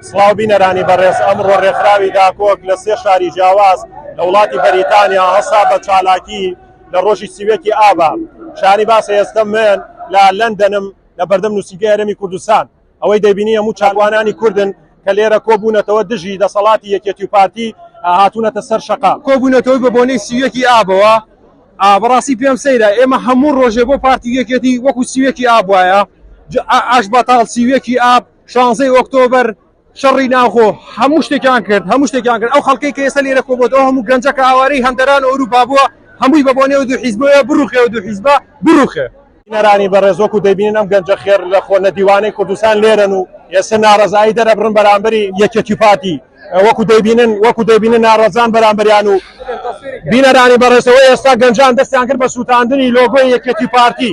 سڵاو بینەرانی بەڕێز ئەمڕۆ ڕێکخراوی داکۆک لە سێ شاری جیاواز لە وڵاتی بەریتانیا هەستا بە چالاکی لە ڕۆژی سی و یەک ی ئابا شانی باسە ئێستە من لە لەندەنم لە بەردەم نووسینگەی هەرێمی کوردستان ئەوەی دەبینی هەموو چاکوانانی کوردن کە لێرە کۆبوونەتەوە دژی دەسەڵاتی یەکێتی و پارتی هاتوونەتە سەر شەقام کۆبوونەتەوەی بە بۆنەی سی و یەک ی ئابەوە بەڕاستی پێم سەیرە ئێمە هەموو ڕۆژێ بۆ پارتی و یەکێتی وەکو سی و یەک ی ئاب وایە ئاش بەتاڵ سی و یەک ی ئاب. شانزەی ئۆکتۆبەر شەڕی ناوخۆ هەموو شتێکیان کرد هەموو شتێکیان کرد ئەو خەڵکەی کە ئێستا لێرە کۆبۆتەوە هەموو گەنجە کە ئاوارەی هەندەران و ئەوروپا بووە هەمووی بە بۆنێ و دوو حیزبەوە بڕوخێ و دوو حیزبە بڕوخێ بینەرانی بەڕێز وەکو دەبینن ئەم گەنجە خێر لە خۆ نەدیوانەی کوردستان لێرەن و ئێستا ناڕەزایی دەرەبڕن بەرامبەری یەکێتی پارتی وەکو دەبینن وەکو دەبینن ناڕەزان بەرامبەریان و بینەرانی بەڕێزەوە ئێستا گەنجان دەستیان کرد بە سووتاندنی لۆگۆی یەکێتی پارتی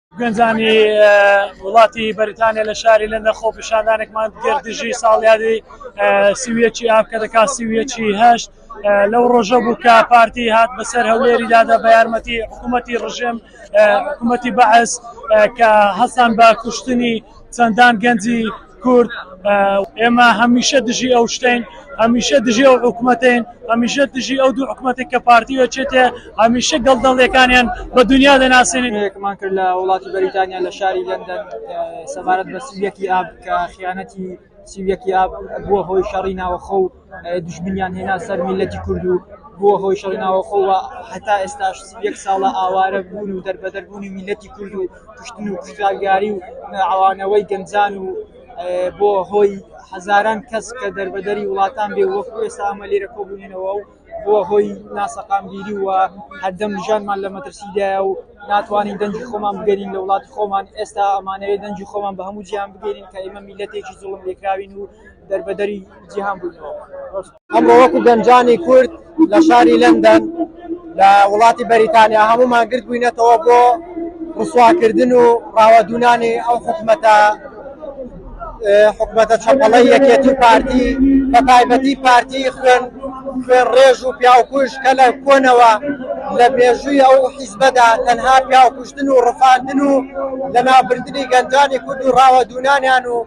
گەنجانی وڵاتی بەریتانیا لە شاری لەندە خۆپیشاندانێکمان گردژی ساڵیادی سویەکی ئاپ کە دەکات سویەکی هەشت لەو ڕۆژە بوو کە پارتی هات بەسەر هەولێری دادا بە یارمەتی حکوومەتی ڕژێم حکوومەتی بەعس کە هەستان بە کوشتنی چەندان گەنجی کورد ئێمە هەمیشە دژی ئەو شتین هەمیشە دژی ئەو حکوومەتین هەمیشە دژی ئەو دوو حکوومەتی کە پارتیوە چێتێ هەمیشە گەڵدەڵێکانیان بە دنیا دەناسێنێکمان کرد لە وڵاتی بەریتانیا لە شاری لەندەن سەبارەت بە سویەکی ئاب کە خیانەتی سیویەکی ئاب بووە هۆی شەڕی ناوەخۆ و دوژمنیان هێنا سەر میللەتی کورد و بووە هۆی شەڕی ناوەخۆ و هەتا ئێستاش یەک ساڵە ئاوارە بوون و دەربەدەر بوونی میللەتی کورد و کوشتن و کوشتارگێڕی و عەوانەوەی گەنجان و بۆ هۆی هەزاران کەس کە دەربەدەری وڵاتان بێ و وەکو ئێستا ئەمە لێرە کۆبوونەوە و بۆ هۆی ناسەقامگیری و هەردەم ژانمان لە مەترسیدایە و ناتوانین دەنگی خۆمان بگەرین لە وڵاتی خۆمان ئێستا ئەمانەوێت دەنگی خۆمان بە هەموو جیهان بگەرین کە ئێمە میللەتێکی زوڵم لێکراوین و دەربەدەری جیهان بووینەوە. ئەمڕۆ وەکو گەنجانی کورد لە شاری لەندەن لە وڵاتی بەریتانیا هەموومان گردبووینەتەوە بۆ ڕسواکردن و ڕاوەدوونانی ئەو حکومەتە حکومەتە چەپەڵەی یەکێتی و پارتی بە تایبەتی پارتی خوێن خوێن ڕێژ و پیاوکوژ کە لە کۆنەوە لە مێژووی ئەو حیزبەدا تەنها پیاوکوشتن و ڕفاندن و لەناوبردنی گەنجانی کورد و ڕاوەدوونانیان و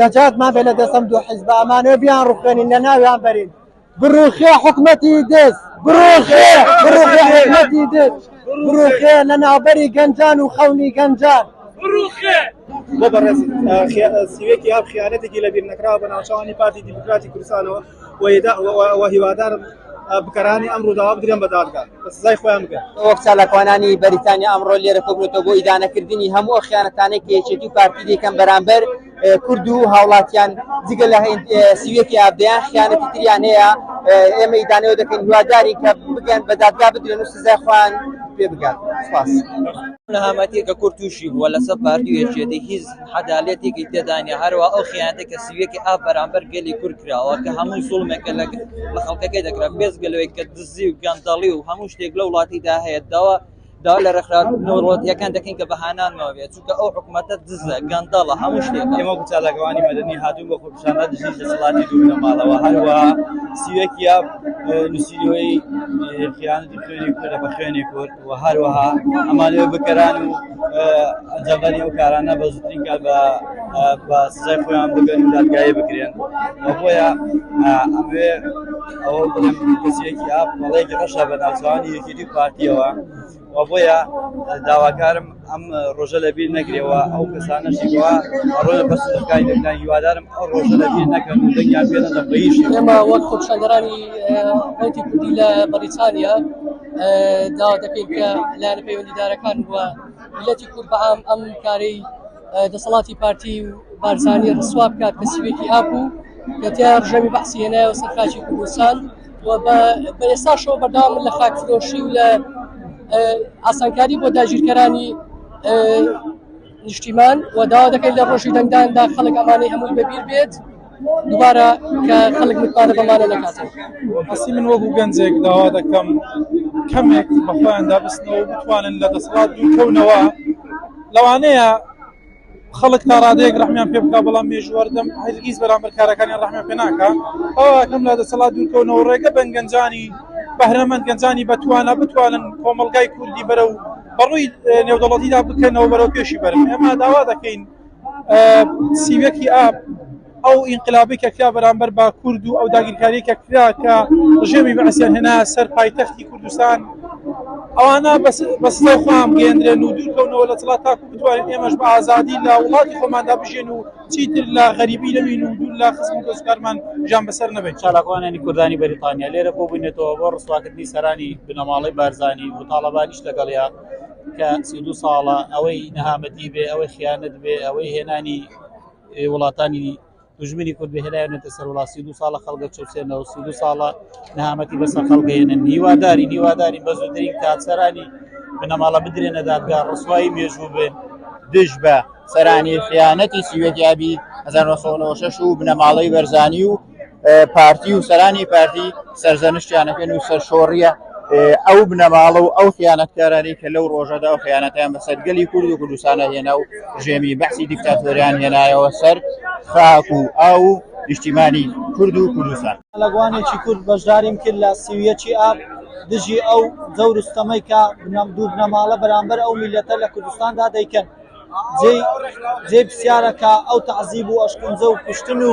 نەجات ما بێ لە دەسەم دوو حیزبە ئەمانە بیان ڕوخێنین لە ناویان بەرین بڕوخێ حکومەتی دێز بڕوخێ بڕوخێ حکومەتی دێز بڕوخێ لە ناوبەری گەنجان و خەونی گەنجان بڕوخێ بۆ بەڕێز سیوێکی ئاب خیانەتێکی لەبیر نەکراوە بە ناوچەوانی پارتی دیموکراتی کوردستانەوە و هیوادارم بکەرانی ئەم ڕووداوە بدرێن بە دادگا و سزای خۆیان بگەن. وەک چالاکوانانی بەریتانیا ئەمڕۆ لێرە کۆبوونەتەوە بۆ ئیدانەکردنی هەموو ئەو خیانەتانەی کە یەکێتی و پارتی دەیکەن بەرامبەر کورد و هاوڵاتیان جگە لە سی و یەک ئاب دەیان خیانەتی تریان هەیە ئێمە ئیدانەی ئەوە دەکەین هیوادارین کە بگەن بە دادگا بدرێن و سزای خۆیان پێ بگات. سوپاس. نەهامەتی کە کورد تووشی بووە لەسەر پارتی و یەکێتی هیچ عەدالەتێکی تێدا نیە هەروا ئەو خیانەتە کە سویەکی ئاپ بەرامبەر گەلی کورد کراوە کە هەموو زوڵمێکە لە لە خەڵکەکەی دەکرا بێزگە لەوەی کە دزی و گەندەڵی و هەموو شتێک لە وڵاتیدا هەیە داوا دا لە ڕێکخراوەتەکان دەکەین کە بەهانانەوە بێت چونکە ئەو حکوومەتە دزە گەندەڵە هەموو شتێک ئێمە چالاکوانی مەدەنی هاتوو بە خۆپشانە دژی دەسەڵاتی دوو لەماڵەوە هەروە سویەکیا نووسیرەوەی خیانەتی خوێنی کورە بە خوێنی کورد و هەروەها ئەمانەوێ بکەران و ئەنجامدانی ئەو کارانە بە زووترین کات بە بە سزای خۆیان بگەن و دادگایی بکرێن و بۆیە ئەموێ ئەوە بڵێم کەسێکی ئاپ مەڵێکی ڕەشە بە ناوچوانی یەکێتی پارتیەوە و بۆیە داواکارم ئەم ڕۆژە لە بیر نەگرێەوە ئەو کەسانەشی وا ڕۆژە بەس دەکای دەکای هیوادارم ئەو ڕۆژە لە بیر نەکەن و دەنگیان پێ نەدەم بە هیچ شێوە. ئێمە وەک خۆپیشاندەرانی ڕەوتی کوردی لە بەریتانیا داوا دەکەین کە لایەنە پەیوەندیدارەکان بووە میلەتی کورد بە عام ئەم کارەی دەسەڵاتی پارتی و بارزانی ڕسوا بکات کە سوێکی هابوو کە تیا ڕژەمی بەعسی هێنایەوە سەر خاکی کوردستان و بە بە ئێستاشەوە بەردەوام لە خاک فرۆشی و لە ئاسانکاری بۆ داگیرکەرانی نیشتیمان و داوا دەکەین لە ڕۆژی دەنگداندا خەڵک ئەمانەی هەمووی بەبیر بێت دوبارە کە خەڵک متمانە بەمانە نەکاتن ئەسی من وەکو گەنجێک داوا دەکەم کەمێک بەخۆیاندا بستنەوە بتوانن لە دەسڵات دوکەونەوە لەوانەیە خەڵک تا ڕادەیەک ڕەحمیان پێ بکا بەڵام مێژووەردەم هەرگیز بەرامبەر کارەکانیان ڕەحمیان پێ ناکا ئەوەکەم لە دەسەڵات دوورکەونەوە ڕێگە بەن گەنجانی بەهرەمەند گەنجانی بەتوانە بتوانن کۆمەڵگای کوردی بەرە و بەڕووی نێودەڵەتیدا بکەنەوە بەرەو پێشی بەرن ئێمە داوا دەکەین سیوەکی ئاپ ئەو ئینقلابەی کە کرا بەرامبەر بە کورد و ئەو داگیرکاریە کە کرا کە ڕژێمی بەعسیان هێنا سەر پایتەختی کوردستان ئەوانە بە سزای خۆیان بگەێندرێن و دوورکەونەوە لە دەسەڵات تاکو بتوانین ئێمەش بە ئازادی لە وڵاتی خۆماندا بژێن و چیتر لە غەریبی نەبین و دوور لە خزم و دۆستکارمان ژان بەسەر نەبێت چالاکوانانی کوردانی بەریتانیا لێرە بۆبوونێتەوە بۆ ڕسواکردنی سەرانی بنەماڵەی بارزانانی و تاڵەبانیش لەگەڵیا کە سی دو ساڵە ئەوەی نەهامەتی بێ ئەوەی خیانەت بێ ئەوەی هێنانی وڵاتانی دژمنی کورد بهێنایەنێتە سەر وڵات سی دو ساڵە خەڵگە چوسێنەوە سی دو ساڵە نەهامەتی بەسەر خەڵگەێنن هیواداری هیواداری بە زودترین کاتسەرانی بنەماڵە بدرێنە دادگا ڕسوایی مێژوو بێن دژ بە سەرانی خیانەتی سیوەتیابی 1996 و بنەماڵەی بەرزانی و پارتی و سەرانی پارتی سەرزەنشتیانەکەن و سەرشۆڕیە ئەو بنەماڵە و ئەو خیانەتکارانی کە لەو ڕۆژەدا و خیانەتیان بەسەر گەلی کورد و کوردستانە هێنا و ژێمی بەسی دیکتاتۆریان هێنایەوە سەر خاک و ئاو و نیشتیمانی کورد و کوردستان لەگوانێکی کورد بەشداریم کرد لە سیویەکی ئاب دژی ئەو جەور و ستەمەی کە بنەم دوو بنەماڵە بەرامبەر ئەو میلەتە لە کوردستاندا دەیکەن جێی جێی پرسیارە کە ئەو تەعزیب و ئەشکەنجە و کوشتن و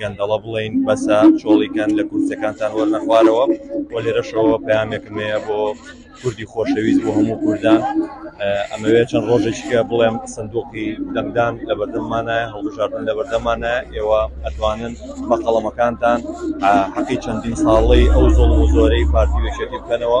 گەندەڵە بڵین بەسە چۆڵیکەن لە کورسەکانتان وەرنەخوارەوە و لێرەشەوە پامێکم هەیە بۆ کوردی خۆشەویست بۆ هەموو کوردان ئەمەوێت چەند ڕۆژێکە بڵێم سندوقی دەنگدان لە بەردەمانە هەڵبژاردن لە بەردەمانە ئێوە ئەتوانن بە قەڵەمەکانتان حەقی چەندین ساڵی ئەو زۆڵ و زۆرەی پارتی وێشێتی بکەنەوە